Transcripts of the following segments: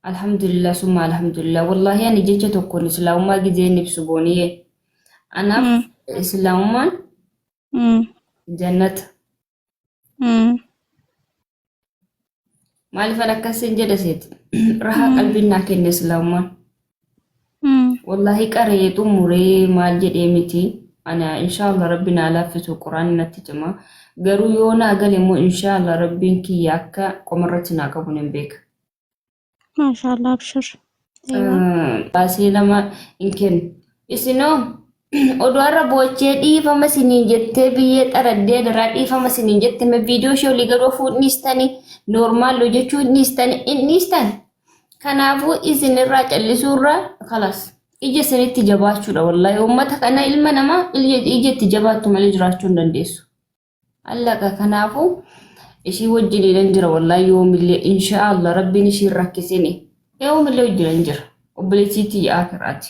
Alhamdulillah summa alhamdulillah wallahi ani jecha tokkoon islaamummaa gizeen ibsu booniyee anaaf Mm. islaamummaan Mm. jannata Mm. maaliifan akkas hin jedhe seeti rahaa qalbiin naa kenne islaamummaan Wallaahi qaree xumuree maal jedhee miti ana inshaallah rabbi naa laaffisu quraanni natti cima garuu yoo naa gale immoo inshaallah rabbiin kiyya akka qomarratti naa qabu nan beeka. Maashaallah abshir. Baasee lama hin kennu. Isinoo oduu har'a boochee dhiifama siniin jettee biyyee xaraddee daraa dhiifama siniin jette me viidiyoo ishee olii garuu fuudhniistani noormaal hojjechuu dhiistani hin dhiistani. Kanaafuu isin irraa callisuu irraa kalas ija isinitti jabaachuudha wallahi uummata kana ilma namaa ija itti jabaattu malee jiraachuu hin dandeessu. Allaqa kanaafuu ishii wajjiniinan jira wallahi yoomillee inshaallah rabbiin ishiin rakkisini yoomillee wajjinan jira obboleessiitii yaa'aa kiraati.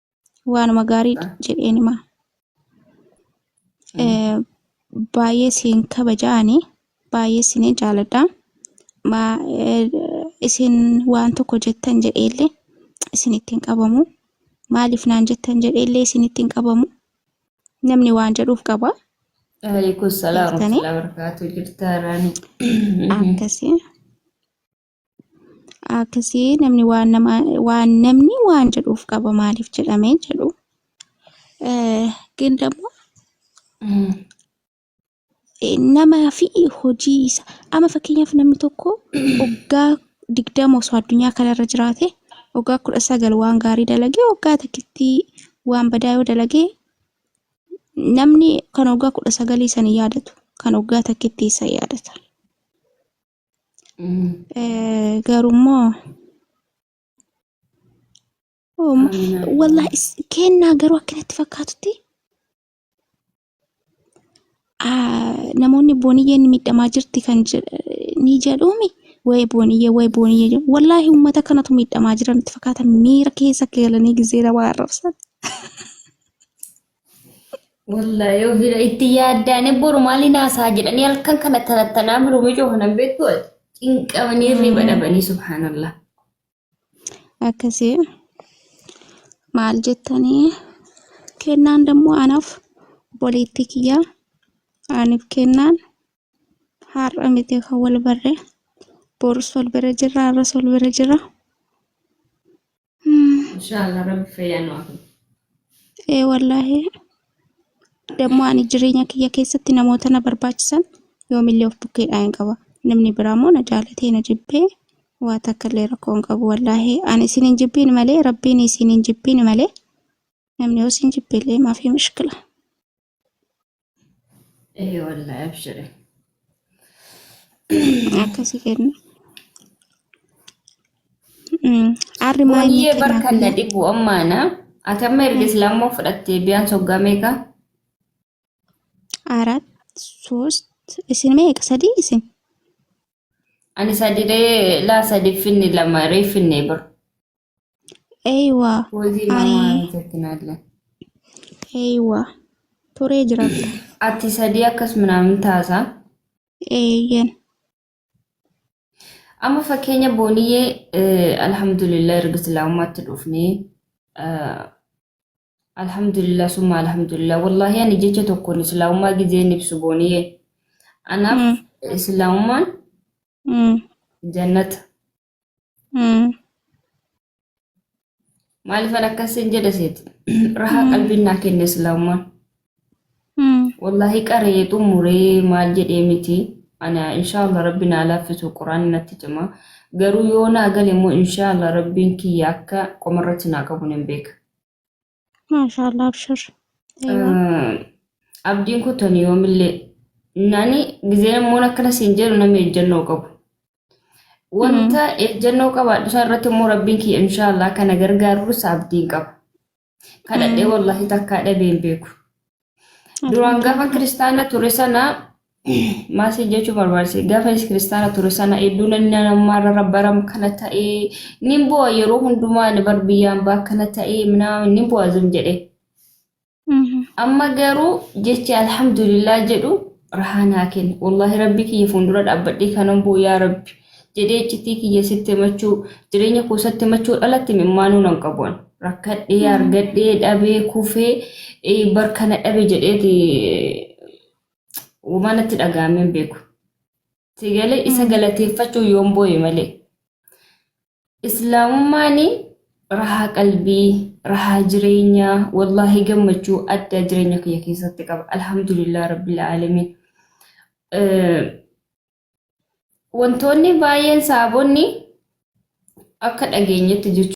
waanuma gaarii jedheen hima. Eh, Baay'ee siin kabaja ani baay'ee siin jaaladha. Ma- eh, Isin waan tokko jettan jedheellee isin ittiin qabamu. Maaliif naan jettan jedheellee isin ittiin qabamu. Namni waan jedhuuf qaba. Waalaikum salaam Jirtanii? warahmatullahi wabarakatuh. Jirtaa Raani. Akkasii. akkasii namni waan nama waan namni waan jedhuuf qaba maaliif jedhamee jedhu ግን ደግሞ namaa fi hojii isa amma fakkeenyaaf namni tokko waggaa digdama osoo addunyaa kanarra jiraate waggaa kudha sagal waan gaarii dalagee waggaa takkitti waan badaa yoo dalagee namni kan waggaa kudha sagalii san yaadatu kan waggaa takkitti isa yaadata. Eh, Garummoo Ooma. Wallahi is- kennaa garuu akkanatti fakkaatutti ah, namoonni booniyyeen miidhamaa jirti kan jedh- ni jedhuumi. Waa'ee booniyyee, waa'ee booniyyee jedhu. Wallahi uummata kanatu miidhamaa jira natti fakkaata. Miira keessa galanii gizeera waa arrabsan. Wallahi yoo bira itti yaaddaane boru maaliin haasaa jedhanii halkan kana tarattanaa biroo mijoo kanan beektu cinqamanii riba dhabanii subhaanallah. Akkasii maal jettanii kennaan dammoo anaaf boleetti kiyyaa aniif kennaan har'a miti kan wal barre borus wal bira jirra har'as wal bira jirra. Inshallah rabbi fayyaa nu afu. ee wallaahi dammoo ani jireenya kiyya keessatti namoota na barbaachisan yoomillee of bukkeedhaa hin qaba namni biraa immoo na jaalatee na jibbee waa takka illee rakkoo hin qabu wallaahi ani isin hin jibbiin malee rabbiin isin hin jibbiin malee namni yoo isin jibbeellee maaf hin mishkila Ee wallahi abshire. akkasi kenna Mm, arri maa inni Waniyyee bar kennaaf kan na hin dhibu ammaana. Ati amma erga islaamoo fudhattee biyaan soggaa meeqa? arat sost isin meeqa sadii isin Ani sadidee laa sadi finni lama ree finne bar. Eeywa. Wazii Ani- mamaa jettin alle. Eeywa. Turee jiraadha. Ati sadii akkas minaamin taasaa. Eeyyen. Amma fakkeenya booniyyee eh, alhamdulillah erga islaamummaatti dhufnee eh, alhamdulillah summa alhamdulillah wallahi ani jecha tokkoon islaamummaa gizeen ibsu booniyyee anaaf Mm. islaamummaan Mm. jannata Maalifan akkas sin jedhe seet rahaa qalbiin naa kenne islaamummaan. Wallaahi qaree xumuree maal jedhee miti. Ana inshaallah rabbi naa laaffisu quraanni natti cima. Garuu yoo naa gale immoo inshaallah rabbiin kiyya akka qomarratti naa qabu nan beeka. Maashaa Allah abshir. Abdiin kutan yoomillee nani gizeen immoo akkana siin jedhu namni ejjennoo qabu. Wanta ejjennoo qabaadhu isaa irratti immoo rabbiin kiyya inshaallah kana gargaarus abdiin qaba. Kadhadhee wallaahi takkaa dhabee hin beeku. Duraan gaafa kiristaana ture sana maasii jechuu barbaachise gaafa kiristaana ture sana hedduu namni namarra rabbaram kana ta'ee nin bu'a yeroo hundumaa ni bar biyyaan baa kana ta'ee minaa nin bu'a zim jedhe. Amma garuu jechi alhamdulillah jedhu rahaa naa kenne. Wallaahi rabbi kiyya fuuldura dhaabbadhee kanan bu'u yaa rabbi. jedhee iccitii kiyya sitti himachuu jireenya koo isatti himachuun alatti mimmaanuu nan qabuun rakkadhee argadhee dhabee kufee eh, bar kana dhabe jedheeti uumaa natti dhaga'amee hin beeku. Si galee isa galateeffachuu yoon booye malee. Islaamummaan rahaa qalbii, rahaa jireenyaa, wallaahi gammachuu addaa jireenya kiyya keessatti qaba. Alhamdulillah Rabbil Aalamiin. Eh, Wantoonni baay'een saabonni akka dhageenyetti jechuudha.